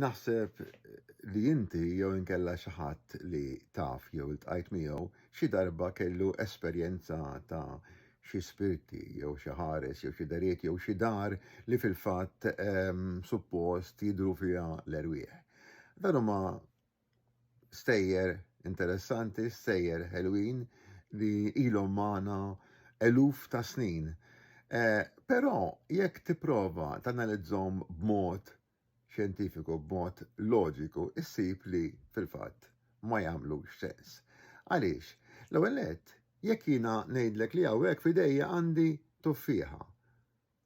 Naħseb li inti jew inkella xi ħadd li taf jew iltqajt miegħu xi darba kellu esperjenza ta' xi spirti jew xi ħares jew xi deriet jew xi dar li fil-fatt suppost jidhru fiha l-erwieħ. Dan huma stejjer interessanti, stejjer ħelwin li ilhom magħna eluf ta' snin. Eh, però jekk tipprova tanalizzhom b'mod xjentifiku b'mod loġiku ssib li, fil-fatt, ma jagħmlux sens. Għaliex? L-ewwel nett, jekk jiena ngħidlek li hawnhekk f'idejja għandi tuffieħa,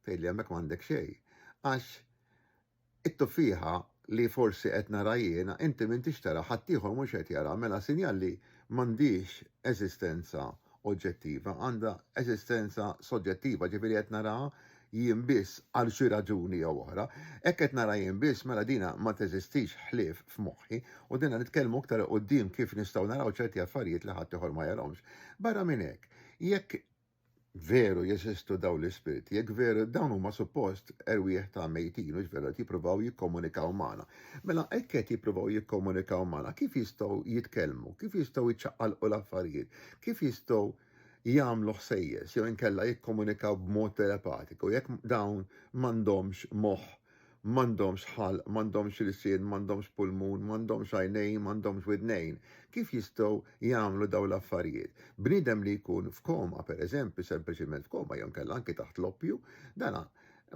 tgħidli hemmhekk m'għandek xejn, għax it-tuffieħa li forsi qed nara jiena inti m'intix taraha, ħaddieħor mhux qed jaraha, mela sinjal li m'għandhiex eżistenza oġġettiva, għandha eżistenza soġġettiva, jiġifieri qed naraha jien biss għal xi raġuni jew oħra, hekk qed nara jien biss mela dina ma teżistix ħlief f'moħħi u dina nitkellmu iktar 'il quddiem kif nistgħu naraw ċerti affarijiet li ħaddieħor ma jarahomx. Barra minn hekk, jekk veru jeżistu dawn l-ispirti, jekk veru dawn huma suppost erwieħ ta' mejtin hux veru qed jippruvaw jikkomunikaw magħna. Mela hekk qed jippruvaw jikkomunikaw magħna kif jistgħu jitkellmu, kif jistgħu jċaqqalqu l-affarijiet, kif jistgħu jagħmlu ħsejjes jew inkella jikkomunikaw b'mod telepatiku, jekk dawn m'għandhomx moħħ, m'għandhomx ħalq, m'għandhomx ilsien, m'għandhomx pulmun, m'għandhomx għajnejn, m'għandhomx widnejn, kif jistgħu jagħmlu dawn l-affarijiet? Bniedem li jkun f'koma, pereżempju, sempliċiment f'koma jew inkella anki taħt l-oppju, dan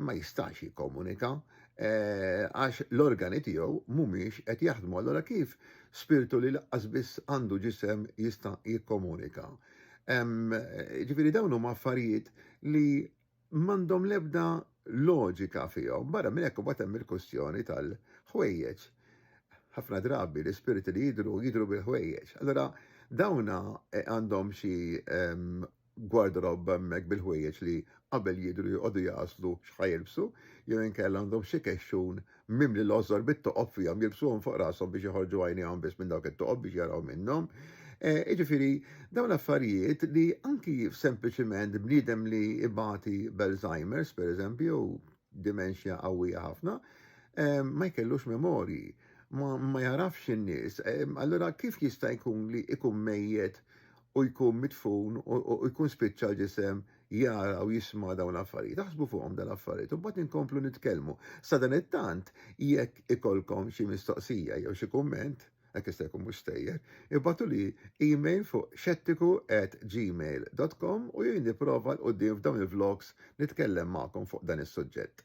ma jistax jikkomunika eh, għax l-organi tiegħu mhumiex qed jaħdmu. Allora kif spirtu li laqqas biss għandu ġisem jista' jikkomunika? Ġifieri dawn huma affarijiet li m'għandhom l-ebda loġika fihom. Barra minn hekk imbagħad hemm il-kwestjoni tal-ħwejjeġ. Ħafna drabi l-ispirti li jidru jidru bil-ħwejjeġ. Allora dawna eh, għandhom xi gwardarobb hemmhekk bil-ħwejjeġ li qabel jidhru joqogħdu jagħżlu x'ħa jilbsu, jew inkella għandhom xi kexxun mimli l-għożżor bit-toqob fihom jilbsuhom fuq rashom biex joħorġu għajnejhom biss minn dawk it-toqob biex jaraw minnhom. Jiġifieri dawn l-affarijiet li anki sempliċiment bniedem li ibati b'Alzheimer's pereżempju jew dimenxja qawwija ħafna, ma jkellux memorji, ma jarafx in-nies, allura kif jista' jkun li jkun mejjet u jkun mitfun u jkun spiċċa l-ġisem jara u jisma' dawn l-affarijiet. Aħsbu fuqhom dan l-affarijiet u mbagħad inkomplu nitkellmu. Sadan it-tant jekk ikollkom xi mistoqsija jew xi kumment, hekk jista' jkun mhux stejjer, ibgħatuli email fuq xettiku at gmail dot com u jien nipprova 'l quddiem f'dawn il-vlogs nitkellem magħkom fuq dan is-suġġett.